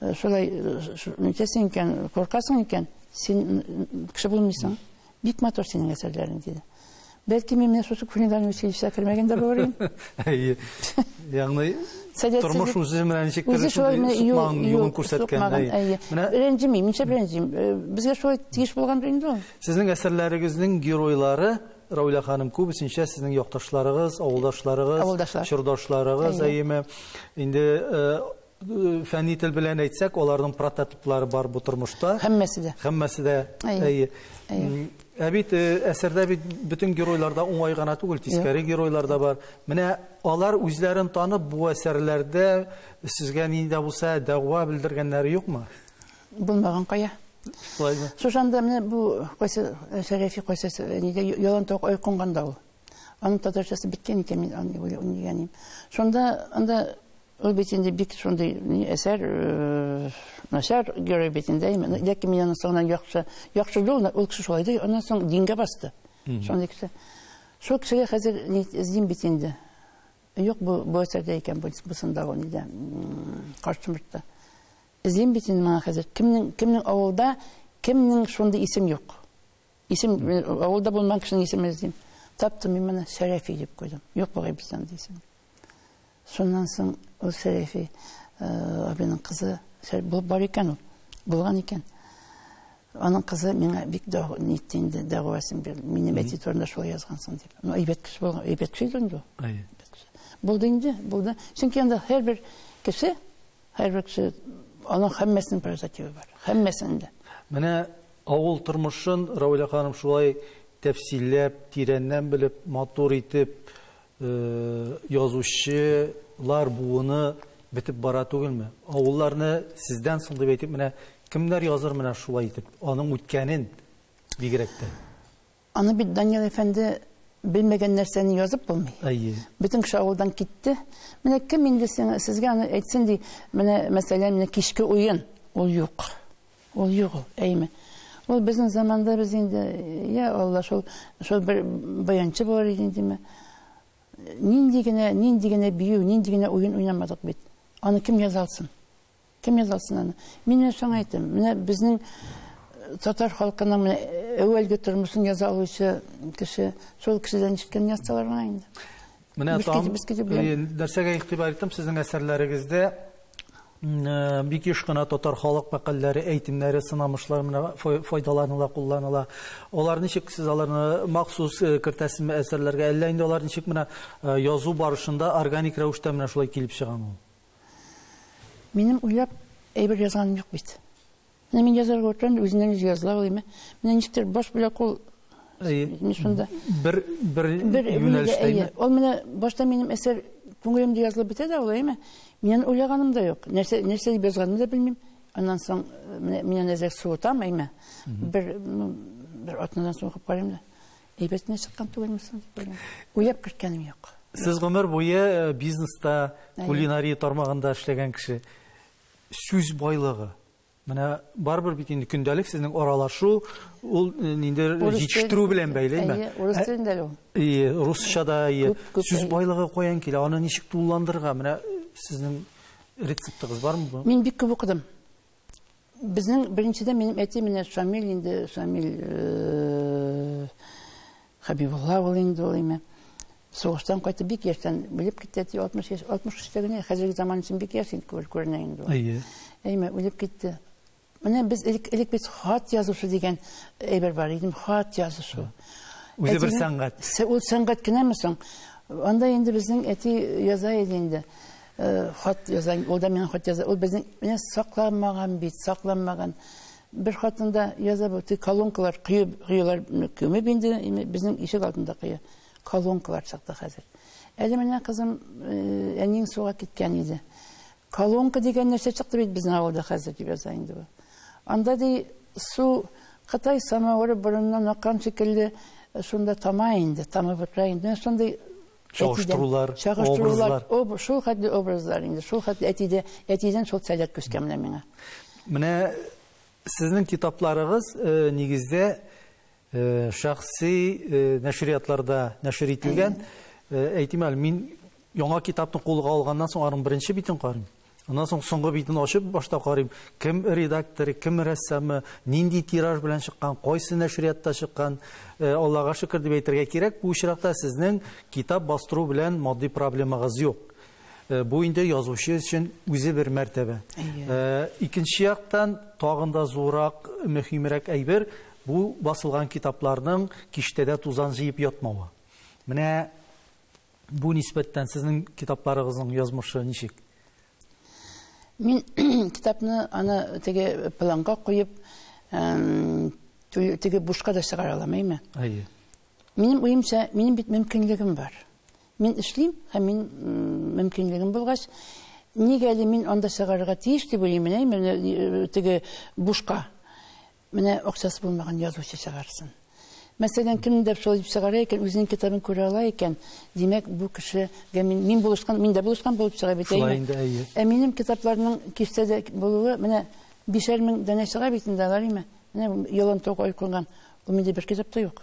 э, шулай э, итәсең икән, куркасың икән, син кеше булмыйсың. Бик матур синең әсәрләрең, диде. Бәлки мин менә шушы кухнядан училищега кермәгән дә булыр идем. Әйе. Ягъни тормыш үзе менә ничек тырыш сукман юлын күрсәткән. Менә рәнҗемим, ничә рәнҗим. Э, безгә шулай тиеш булган инде ул. Сезнең әсәрләрегезнең геройлары Равилә ханым, күбесенчә сезнең якташларыгыз, авылдашларыгыз, Авылдашлар. чордашларыгыз, Әйе. әйеме? Инде э, фәнни тел белән әйтсәк, аларның прототиплары бар бу тормышта. Һәммәсе дә. Һәммәсе дә. Әйе. Әйе. Әйе. М, Ә бит э, әсәрдә бит бөтен геройлар да уңай гына түгел, тискәре геройлар да бар. Менә алар үзләрен танып бу әсәрләрдә сезгә нинди дә булса дәгъва белдергәннәре юкмы? Булмаган кая. Шулаймы? Шушан да менә бу кайсы э, Шәрәфи кайсы э, нидә ялан ток ой кунганда ул. Аның татарчасы биткән икән мин аны уйлыйм дигәнем. Шунда анда ул бит инде бик шундый әсәр э, начар герой бит инде. Ләкин мин аны соңынан яхшы яхшы юлны ул кеше шулай ди. Аннан соң дингә басты. Шундый кеше. Шул кешегә хәзер эзлим бит инде. Юк бу бу әсәрдә икән бу бусында ул нидә. Каршымызда. Эзлим бит инде моңа хәзер. Кемнең, кемнең авылда, кемнең шундый исем юк. Исем, авылда булмаган кешенең исемен эзлим. Таптым мин моны, Сәрәфи дип куйдым. Юк бугай бездә андый исем. Шуннан соң ул Сәрәфи э, абиның кызы, булып бар икән ул, булган икән. Аның кызы миңа бик дәгъва нитте инде, дәгъвасын бирде. Мине мәти турында шулай язгансың дип. Ну, әйбәт кеше булган, әйбәт кеше инде. Булды инде, булды. Чөнки анда һәрбер кеше Һәрбер кеше аның һәммәсенең прозативы бар. Һәммәсенең дә. Менә авыл тормышын Равилә ханым шулай тәфсилләп, тирәннән белеп, матур итеп язучылар буыны бетеп бара түгелме? Авылларны сездән соң дип әйтеп, менә кемнәр языр менә шулай итеп, аның үткәнен бигрәк тә. Аны бит, Данил әфәнде, белмәгән нәрсәне язып булмый. Әйе. Бөтен кеше авылдан китте. Менә кем инде сиңа, сезгә аны әйтсен ди. Менә мәсәлән, менә кичке уен. Ул юк. Ул юк ул, әйме. Ул безнең заманда без инде, я Алла, шул шул бер баянчы булыр иде димә. Нинди генә, нинди генә бию, нинди генә уен уйнамадык бит. Аны кем яза алсын? Кем язалсын аны? Мин менә соң әйтем, менә безнең татар халкының менә әүвәлге тормышын яза алучы кеше, шул кешедән ишеткән язсалар гына инде. Менә там, нәрсәгә игътибар иттем, сезнең әсәрләрегездә бик еш кына татар халык мәкальләре, әйтемнәре, сынамышлар менә файдаланыла, кулланыла. Алар ничек сез аларны махсус кертәсезме әсәрләргә, әллә инде алар ничек менә язу барышында органик рәвештә менә шулай килеп чыгамы? Минем уйлап әйбер язганым юк бит. Менә мин язарга утырам да үзеннән үзе языла уйлыйм. Менә ничектер баш белән кул шунда. Бер бер юнәлештәме? Ул менә башта минем әсәр күңелемдә язылып бетә дә ул, әйме? Миннән уйлаганым да юк. Нәрсә нәрсә дип язганымны да белмим. Аннан соң менә миннән әзер суытам, әйме? Бер бер атнадан соң укып карыйм да. Әйбәт не чыккан түгелме соң дип уйлыйм. Уйлап керткәнем юк. Сез гомер буе э, бизнеста, кулинария тармагында эшләгән кеше. Сүз байлыгы. Менә барбер бит инде көндәлек сезнең аралашу, ул э, инде җитештерү белән бәйлеме? Әйе, урыс телендә ул. Әйе, русча да, әйе. Сүз байлыгы каян килә? Аны ничек тулыландырырга? Менә э, сезнең рецептыгыз бармы? Мин бик күп укыдым. Безнең беренчедән минем әти менә Шамил инде, Шамил э, Хабибулла ул инде ул име. Сугыштан кайтып бик яшьтән үлеп китте, әти 60 яшь, 63-тә генә хәзерге заман өчен бик яшь инде күренә инде ул. Әйе. Әйме үлеп китте. Менә без элек элек без хат язушы дигән әйбер бар иде, хат язышу. Үзе бер сәнгать. Ул сәнгать кенәме соң? Анда инде безнең әти яза иде инде. Э, хат язан, ул да миңа хат яза. Ул безнең менә сакланмаган бит, сакланмаган. Бер хатында яза бу, колонкалар кыйып, кыйлар көме бинде, безнең ишек алдында кыя. Колонкалар чыкты хәзер. Әле менә кызым э, әниң суга киткән иде. Колонка дигән нәрсә чыкты бит безнең авылда хәзер дип яза инде бу. Анда ди су Кытай самавыры борыннан аккан шикелле э, шунда тама инде, тама бөкрә инде. Шундый Чагыштырулар, образлар. Шул хәтле образлар инде, шул хәтле әтидә, әтидән шул сәләт күчкән менә миңа. Менә сезнең китапларыгыз э, нигездә э, шәхси э, нәшриятларда нәшер ителгән. Әйтим әле, мин яңа китапны кулга алганнан соң аның беренче битен карыйм. Аннан соң соңгы битен ачып башта карыйм, кем редакторы, кем рәссамы, нинди тираж белән чыккан, кайсы нәшриятта чыккан. Э, Аллага шөкер дип әйтергә кирәк, бу очракта сезнең китап бастыру белән матди проблемагыз юк. Э, бу инде язучы өчен үзе бер мәртәбә. Э, икенче яктан тагын да зурак, мөһимрәк әйбер бу басылган китапларның киштәдә тузан җыеп ятмавы. Менә Бу нисбәттән сезнең китапларыгызның язмышы ничек? Мин китапны аны теге планга куеп, теге бушка да чыгара алам, әйме? Әйе. Минем уемча, минем бит мөмкинлегем бар. Мин эшлим, һәм мин мөмкинлегем булгач, нигә әле мин анда чыгарырга тиеш дип уйлыйм, әйме, теге бушка. Менә акчасы булмаган язучы чыгарсын. Мәсәлән, кемнедер шулай дип чыгара икән, үзенең китабын күрә ала икән, димәк, бу кеше мин, мин булышкан, мин дә булышкан булып чыга бит. Шулай инде, әйе. Ә минем китапларның киштәдә булуы, менә бишәр мең данә чыга бит инде алар, әйме? Менә ялан тауга ой кунган, ул миндә бер китап та юк.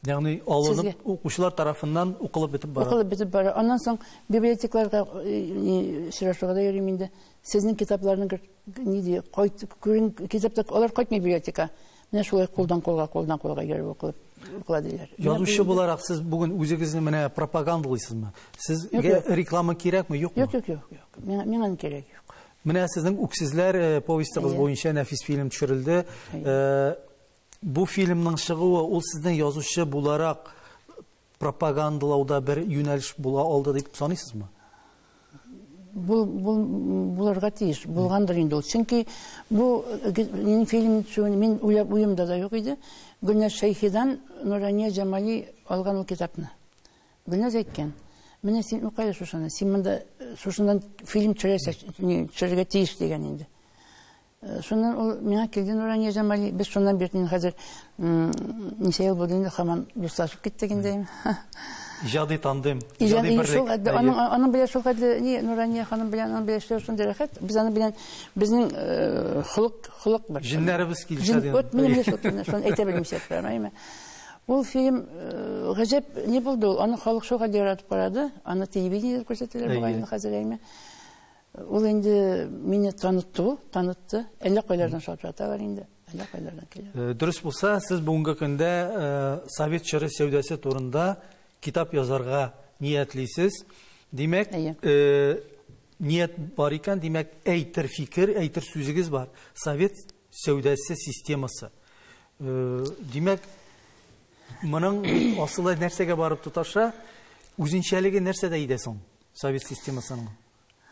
Ягъни алынып укучылар тарафыннан укылып бетеп бара. Укылып бетеп бара. Аннан соң библиотекаларда очрашуга да йөрим инде. Сезнең китапларны ни ди, кайт күрен китапта алар кайтмый библиотека. Менә шулай кулдан кулга, кулдан кулга йөреп укылып укыла диләр. Язучы буларак сез бүген үзегезне менә пропагандалыйсызмы? Сезгә реклама кирәкме, юкмы? Юк, юк, юк, юк. Миңа миңа кирәк юк. Менә сезнең үксезләр повестыгыз буенча нәфис фильм төшерелде. Бу фильмның чыгуы ул сезнең язучы буларак пропагандалауда бер юнәлеш була алды дип саныйсызмы? Бул, бул, булырга тиеш, булгандыр инде ул. Чөнки бу минем фильм төшүен мин уйлап уемда да юк иде. Гөлнәз Шәйхидан Нурания Җамали алган ул китапны. Гөлнәз әйткән, менә син укы әле шушыны, син монда шушыннан фильм төшерәсәк, төшерергә тиеш дигән инде. Шуннан ул миңа килде Нурания Җамали. Без шуннан бирле инде хәзер ничә ел булды инде хаман дуслашып киттек инде. Иҗади тандем, иҗади берлек. Аның аның белән шул хәтле ни Нурания ханым белән аның белән эшләү шундый рәхәт. Без аның белән безнең э, холык холык бер. Җиннәребез килешә дигән. Вот менә шул турында шуны әйтә белмичә тормыймы? Ул фильм э, гаҗәп ни булды ул? Аны халык шул хәтле яратып карады. Аны телевидениедә күрсәтәләр бугай инде хәзер әйме. Ул инде мине танытты ул, танытты. Әллә кайлардан шылап яталар инде. Әллә кайлардан килә. Э, дөрес булса, сез бүгенге көндә э, совет чоры сәүдәсе турында китап язарга ниятлисез. Димәк, э, ният бар икән, димәк, әйтер фикер, әйтер сүзегез бар. Совет сәүдәсе системасы. Димәк, моның асылы нәрсәгә барып тоташа? Үзенчәлеге нәрсәдә иде соң совет системасының?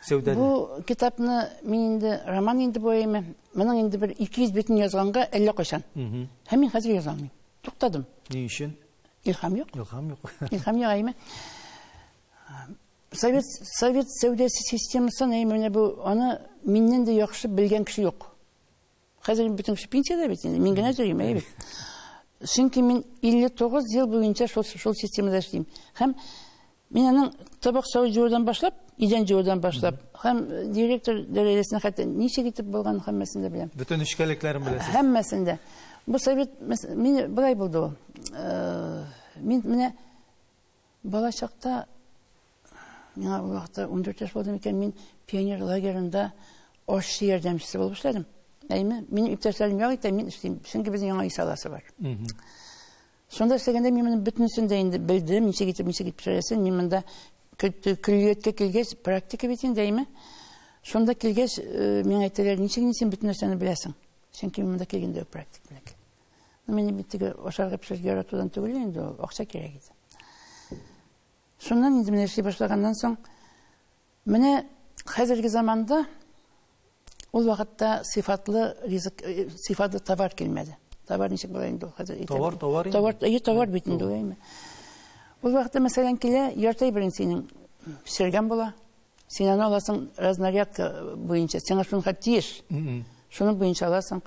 сәүдәне. Бу китапны мин инде роман инде бу әйме. Моның инде бер 200 битен язганга әллә кайчан. Һәм мин хәзер яза алмыйм. Туктадым. Ни өчен? Илһам юк. Илһам юк. Илһам юк әйме. Совет совет сәүдәсе системасын әйме менә бу аны миннән дә яхшы белгән кеше юк. Хәзер бөтенесе пенсиядә бит инде, мин генә йөрим, әйе бит. Чөнки мин 59 ел буенча шул шул системада эшлим. Һәм мин аның табак савыт җуюдан башлап, идән җуюдан башлап, һәм директор дәрәҗәсенә хәтта ничек итеп булган һәммәсен дә беләм. Бөтен эшкәлекләрен беләсез. Һәммәсен дә. Бу совет мин былай булды ул. Э, мин менә Бала чакта, миңа ул вакытта ундүрт яшь булды микән, мин пионер лагерында ашчы ярдәмчесе булып эшләдем. Әйме, минем иптәшләрем як итә, мин эшлим. Чөнки безнең яңа ис аласы бар. Шунда эшләгәндә мин моны бөтенесен дә инде белдем, ничек итеп, ничек итеп пешерәсен. Мин монда көллияткә килгәч, практика бит инде, әйме. Шунда килгәч, э, миңа әйтәләр, ничек инде син бөтен нәрсәне беләсең? Чөнки мин монда килгәндә практика белән Мин бит теге ашарга пешерергә яратудан түгел инде ул, акча кирәк иде. Шуннан инде менә эшли башлаганнан соң, менә хәзерге заманда ул вакытта сыйфатлы ризык, э, сыйфатлы товар килмәде. Товар ничек була инде ул хәзер? Товар, товар. Товар, әйе, товар бит инде, әйме. Ул вакытта мәсәлән килә, ярты бирен синең пешергән була, Син аны аласың разнарядка буенча. Сиңа шунга тиеш. Шуны буенча аласың.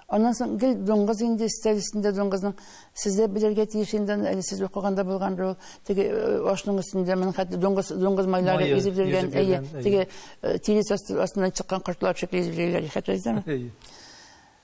Аннан соң гел дуңгыз инде истәлесендә дуңгызның сездә белергә тиеш инде әле сез укыганда булган ул теге э, ашның өстендә мен хәтта дуңгыз дуңгыз майлары изеп йөргән әйе теге э, тирес астыннан чыккан кортлар шикелле изеп йөргән хәтерләйсезме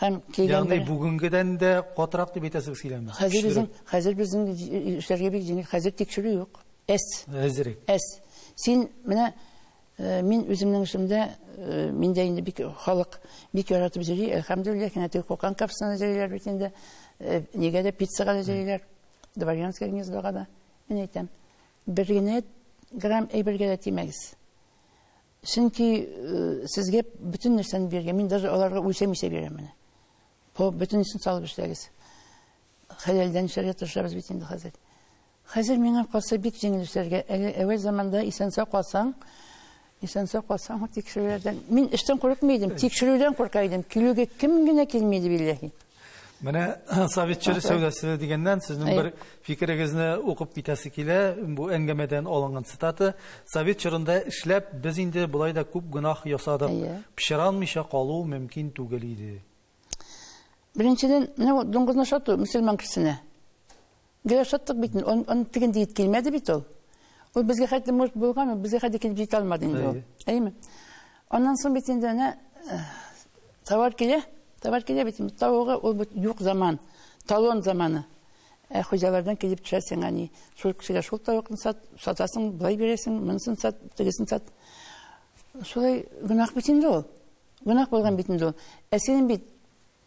Һәм килгән Ягъни бер- бүгенгедән дә катырак дип әйтәсез сөйләмне. Хәзер безнең, Көчлерәк. хәзер безнең җи- эшләргә бик җиңел. Хәзер тикшерү юк. Әс. Әзерәк. Әс. Син менә э, мин үземнең эшемдә, э, миндә инде бик халык бик яратып җыри, әлхәмдүлилләһ, янә теге кукан капсына җыйлар бит инде. Э, Нигә дә пиццага да җыйлар. Дворянское гнездога да. Мин әйтәм, бер генә грамм әйбергә дә тимәгез. Чөнки сезгә бөтен нәрсәне биргән, мин даже аларга үлчәмичә бирәм менә. Бу бөтенесен салып эшләгез. Хәләлдән эшләргә тырышабыз бит инде хәзер. Хәзер миңа калса бик җиңел эшләргә. Әле әүвәл заманда исән-сау калсаң, исән-сау калсаң, тикшерүләрдән. Мин эштән курыкмый идем, тикшерүдән курка идем. Килүгә кем генә килми иде билләһи. Менә совет чоры сәүдәсе дигәннән сезнең бер фикерегезне укып китәсе килә. Бу әңгәмәдән алынган цитата. Совет чорында эшләп, без инде болай да күп гөнаһ ясадык. Пычранмыйча калу мөмкин түгел иде. Беренчедән, менә дуңгызны ашату мөселман кешесенә. Гел ашаттык бит инде, аны аны тегенде ит килмәде бит ул. Ул безгә хәтле может булган, ул безгә хәтле килеп җитә алмады инде ул. Әйеме? Аннан соң бит инде әнә э, товар килә, товар килә бит инде. Тавыгы ул бит юк заман, талон заманы. Ә хуҗалардан килеп төшә сиңа ни? Шул кешегә шул тавыкны сат, сатасың, былай бирәсең, монысын сат, тегесен сат. Шулай гөнаһ бит инде ул. Гөнаһ булган бит инде ул. Ә синең бит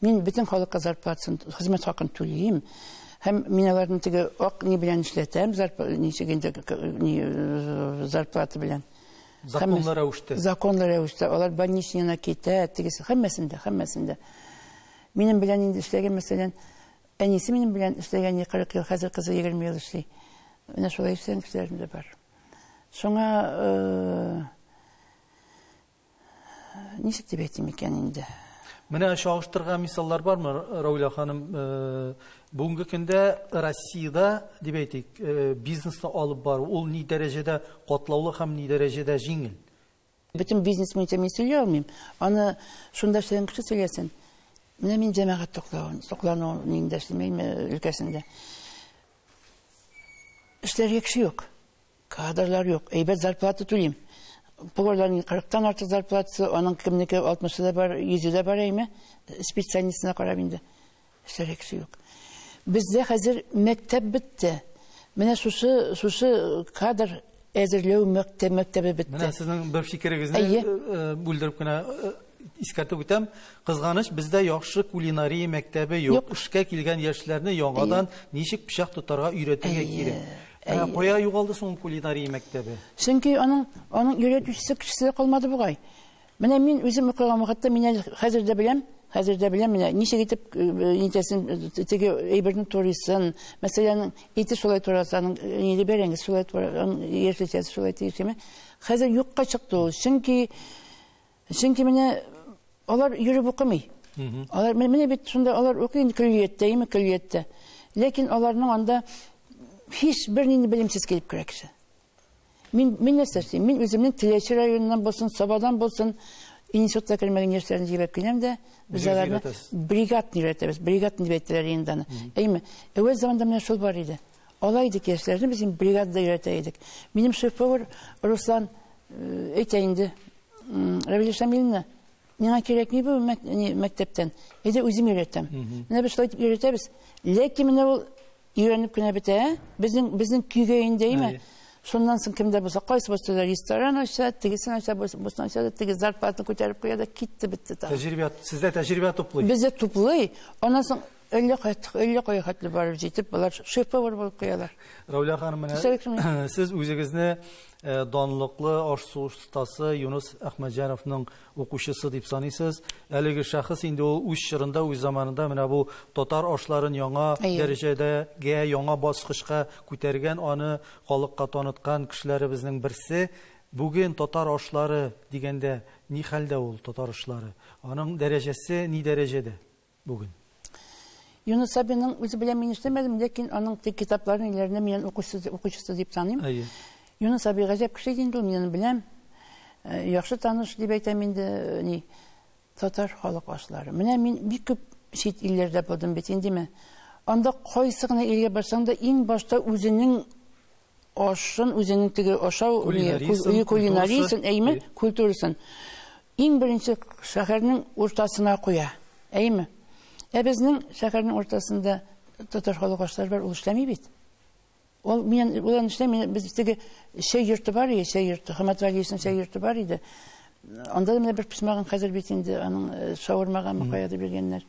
Мин бөтен халыкка зарплатасын, хезмәт хакын түлим. Һәм мин аларны теге ак ни белән эшләтәм, ничек инде э, зарплата белән. Законлы рәвештә. Законлы рәвештә. Алар больничныйна китә, тегесе һәммәсендә, һәммәсендә. Минем белән инде эшләгән, мәсәлән, әнисе минем белән эшләгән 40 ел, хәзер кызы 20 ел эшли. Менә шулай эшләгән кешеләрем дә бар. Шуңа э, ничек дип әйтим икән инде Менә чагыштырган мисаллар бармы, Рауля ханым? Э, бүгенге көндә Россиядә, дип әйтик, э, бизнесны алып бару, ул ни дәрәҗәдә катлаулы һәм ни дәрәҗәдә җиңел? Бөтен бизнес буенча мин сөйли алмыйм. Аны шунда эшләгән кеше сөйләсен. Менә мин җәмәгать туклавын, туклану нигендә эшлимәйме өлкәсендә. Эшләргә кеше юк. Кадрлар юк. Әйбәт зарплата түлим. Поварларның 40-тан артык зарплатасы, аның кемнеке 60-ы да бар, 100-ы да бар әйме. Специальностена карап инде. Эшләргә кеше юк. Бездә хәзер мәктәп бетте. Менә шушы шушы кадр әзерләү мәктәп мәктәбе бетте. Менә сезнең бер фикерегезне э, э, бүлдереп кенә э, искәртеп үтәм. Кызганыч, бездә яхшы кулинария мәктәбе юк. Эшкә килгән яшьләрне яңадан ничек пычак тотарга өйрәтергә кирәк. Ә кая югалды соң кулинария мәктәбе? Чөнки аның аның йөрәтүчесе кешесе калмады бугай. Менә мин үзем укыган вакытта мин әле хәзер дә беләм, хәзер дә беләм менә ничек итеп э, э, нитәсен э, теге әйберне турыйсын. Мәсәлән, ите шулай тураса, аның ниле бәрәңге шулай тураса, яшелчәсе шулай тиешеме. Хәзер юкка чыкты ул. Чөнки Чөнки менә алар йөреп укымый. Алар менә бит шунда алар укый инде көллияттә, име көллияттә. Ләкин аларның анда һич бернинди белемсез килеп керә кеше. Мин мин нәрсә эшлим? Мин үземнең Теләче районыннан булсын, Сабадан булсын, институтта кермәгән яшьләрне җибәреп киләм дә, без аларны бригадны өйрәтәбез. Бригадны дип әйтәләр инде аны. Әйме, әүвәл заманда менә шул бар иде. Ала идек яшьләрне, без инде бригадада өйрәтә идек. Минем шеф-повар Руслан әйтә инде, Равиль Шамиловна, миңа кирәкми бу мәктәптән, әйдә үзем өйрәтәм. Менә без шулай итеп өйрәтәбез. Ләкин менә ул өйрәнеп кенә бетә, безнең безнең көйгә инде, әйме? Шуннан соң кемдә булса, кайсы булса да ресторан ача, тегесен ача, бусын ача да, теге зарплатаны күтәреп куя да, китте бетте тагы. Тәҗрибә, сездә тәҗрибә туплый. Бездә туплый. Аннан соң Әллә кайттык, әллә кая хәтле барып җитеп, болар шеф-повар булып куялар. Рәүлә ханым, менә сез үзегезне э, данлыклы аш-су остасы Юнус Әхмәдҗановның укучысы дип саныйсыз. Әлеге шәхес инде ул үз чорында, үз заманында менә бу татар ашларын яңа дәрәҗәдәге, яңа баскычка күтәргән, аны халыкка таныткан кешеләребезнең берсе. Бүген татар ашлары дигәндә ни хәлдә ул татар ашлары? Аның дәрәҗәсе ни дәрәҗәдә? Бүген. Юнус Сабинның үзе белән мин эшләмәдем, ләкин аның тик китапларын иләренә мин укучысы, укучысы дип таныйм. Әйе. Юнус Саби гаҗәп кеше инде ул, мин беләм. Э, яхшы таныш дип әйтәм инде, э, ни, татар халык ашлары. Менә мин бик күп чит илләрдә булдым бит, индеме. Анда кайсы гына илгә барсаң да, иң башта үзенең Ашын үзенең теге ашау өе кулинариясен, әйме, культурасын иң беренче шәһәрнең уртасына куя. Әйме? Ә безнең шәһәрнең уртасында татар халык ашлары бар, ул эшләми бит. Ул мин улан эшләми, без теге чәй йорты бар иде, чәй йорты, Хамат Валиевның чәй йорты бар иде. Анда да менә бер писмагын хәзер бит инде аның э, шаурмага мөхәйәдә биргәннәр.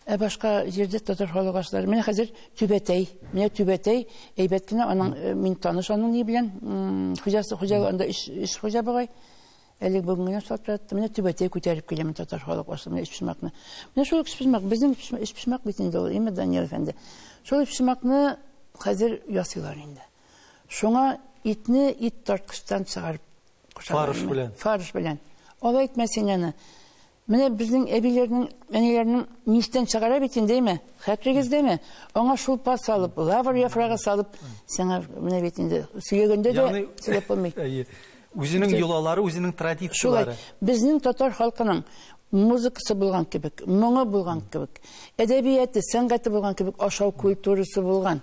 Ә башка җирдә татар халык ашлары. Менә хәзер Түбәтәй. Менә Түбәтәй әйбәт кенә аның э, мин таныш аның ни белән. Хуҗасы хуҗа анда өч өч хуҗа бугай. Әле бүген генә шалтыратты. Менә Түбәтәй күтәреп киләм татар халык ашы. Менә өчпочмакны. Менә шул өчпочмак безнең өчпочмак бит инде ул. Имя Данил әфәнде. Шул өчпочмакны хәзер ясыйлар инде. Шуңа итне ит тарткычтан чыгарып кушалар. Фарш белән. Фарш белән. Алай итмәсен аны. Менә безнең әбиләрнең, әниләрнең мичтән чыгара бит инде, әйме? Хәтерегездәме? Аңа шулпа салып, лавр яфрагы салып, сиңа менә бит инде сөйләгәндә дә сөйләп булмый. Әйе. Үзенең йолалары, үзенең традицияләре. Шулай. Безнең татар халкының музыкасы булган кебек, моңы булган кебек, әдәбияты, сәнгате булган кебек ашау культурасы булган.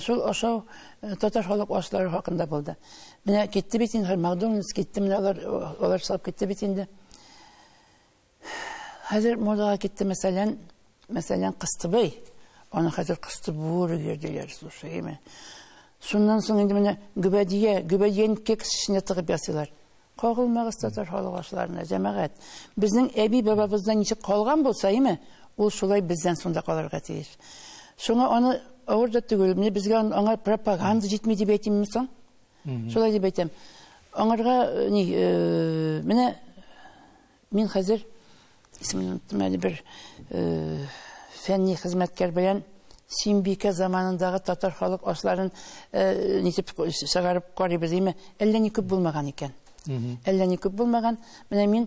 Шул ошау татар халык ашлары хакында булды. Менә китте бит инде, Макдональдс китте, менә алар, алар салып китте бит инде. Хәзер модага китте, мәсәлән, мәсәлән, кыстыбый. Аны хәзер кыстыбур йөрделәр, слушай, имә. Шуннан соң инде менә гөбәдия, гөбәдиян кексичне тыгып ясыйлар. Кагылмагыз татар халык ашларына, җәмәгать. Безнең әби бабабызда ничек калган булса, име, ул шулай бездән шунда калырга тиеш. Шуңа аны авыр да түгел, менә безгә аңа пропаганда җитми дип әйтимме соң? Шулай дип әйтәм. Аңарга э, ни, э, менә Мин хәзер, исемен оныттым әле, бер фәнни хезмәткәр белән Симбикә заманындагы татар халык ашларын нитеп чыгарып карыйбыз, димме? Әллә ни күп булмаган икән. Әллә ни күп булмаган. Менә мин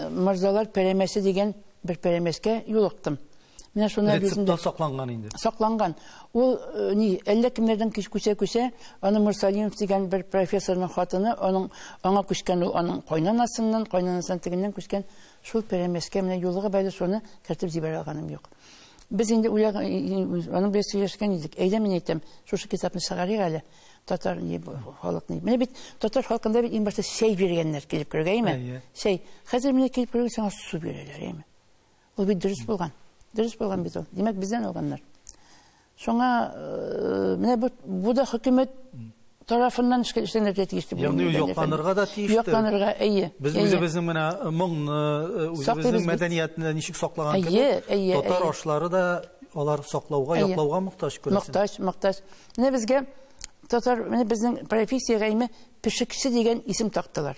Мырзалар пәрәмәсе дигән бер пәрәмәскә юлыктым. Менә шуны рецепта сакланган инде. Сакланган. Ул э, ни, әллә кемнәрдән кич күчә-күчә, аны Мурсалинов дигән бер профессорның хатыны, аның аңа күчкән ул аның кайнанасыннан, кайнанасыннан тегеннән күчкән шул пәрәмәскә менә юлыгы бәйле шуны кертеп җибәрә алганым юк. Без инде үлә аның белән сөйләшкән идек. Әйдә мин әйтәм, шушы китапны чыгарыйк әле. Татар ни халык ни. Менә бит татар халкында бит иң башта чәй биргәннәр килеп кергәйме? Чәй. Хәзер менә килеп кергән саңа су бирәләр, әйме? Ул бит дөрес булган. Дөрес булган бит ул. Димәк, бездән алганнар. Шуңа э, менә бу, бу да хөкүмәт тарафыннан эшкә эшләнергә тиеш дип Ягъни ул якланырга да тиеш. Якланырга, әйе. Без үзебезнең менә э, моңны, э, үзебезнең мәдәниятне ничек саклаган кебек, татар ашлары да алар саклауга, яклауга мохтаҗ күрәсең. Мохтаҗ, мохтаҗ. Менә безгә татар, менә безнең профессия гайме пешекче дигән исем тактылар.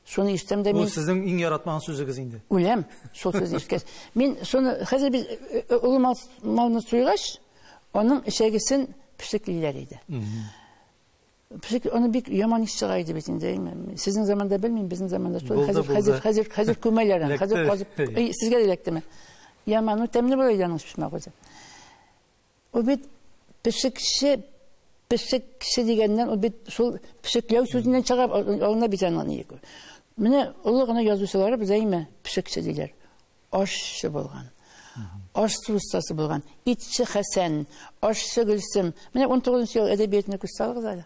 Шуны ишетәм дә мин. Бу сезнең иң яратмаган сүзегез инде. Үләм, шул сүзне ишеткәч. Мин шуны хәзер без э, э, олы малны суйгач, аның эчәгесен пешеклиләр иде. Пешек аны бик яман ис чыга иде бит инде. Сезнең заманда белмим, безнең заманда шул хәзер хәзер хәзер хәзер күмәләр аны. Хәзер казып, сезгә дә эләктеме? Яман, ну тәмле була иде аның пешмәк үзе. Ул бит пешекче, пешекче дигәннән, ул бит шул пешекләү сүзеннән чыга, алына бит аны ник. Менә олы гына язучылары безгә имә пешекче диләр. Ашчы булган. Ашчы устасы булган. Итче Хәсән, ашчы Гөлсем. Менә 19 ел әдәбиятына күз салыгыз әле.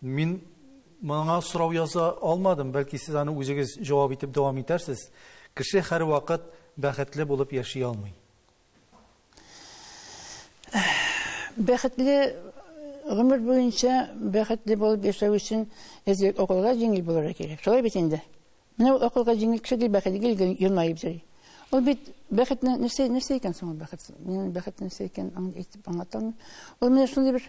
Мин моңа сорау яза алмадым, бәлки сез аны үзегез җавап итеп дәвам итәрсез. Кеше һәрвакыт бәхетле булып яши алмый. Бәхетле гомер буенча бәхетле булып яшәү өчен әзрәк акылга җиңел булырга кирәк. Шулай бит инде. Менә ул акылга җиңел кеше ди бәхет гел гел елмаеп йөри. Ул бит бәхетне нәрсә нәрсә икән соң ул бәхет? Мин бәхет нәрсә икән аңлатам. Ул менә шундый бер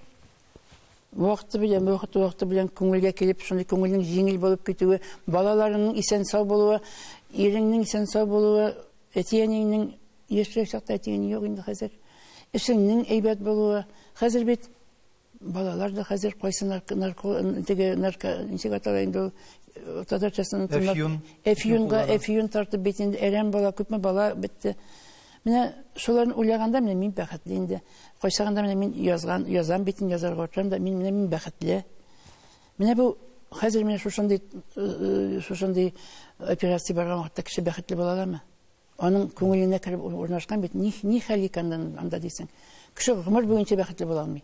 вакыты белән вакыты вакыты белән күңелгә килеп шундый күңелнең җиңел булып китүе балаларыңның исән сау булуы иреңнең исән сау булуы әти әниеңнең яшьрәк чакта әти әни юк инде хәзер эшеңнең әйбәт булуы хәзер бит балалар да хәзер кайсы нарко теге нарко ничек атала инде ул э, татарчасын әфьюн әфьюнга әфьюн тартып бит инде әрәм бала күпме бала бетте Менә шуларны уйлаганда, менә мин бәхетле инде. Кайчагында менә мин язган, язам бит, язарга утырам да, мин менә мин бәхетле. Менә бу хәзер менә шушындый э, шушындый операция барган вакытта кеше бәхетле була аламы? Аның күңеленә кереп урнашкан бит, ни, ни хәл икән анда дисең. Кеше гомер буенча бәхетле була алмый.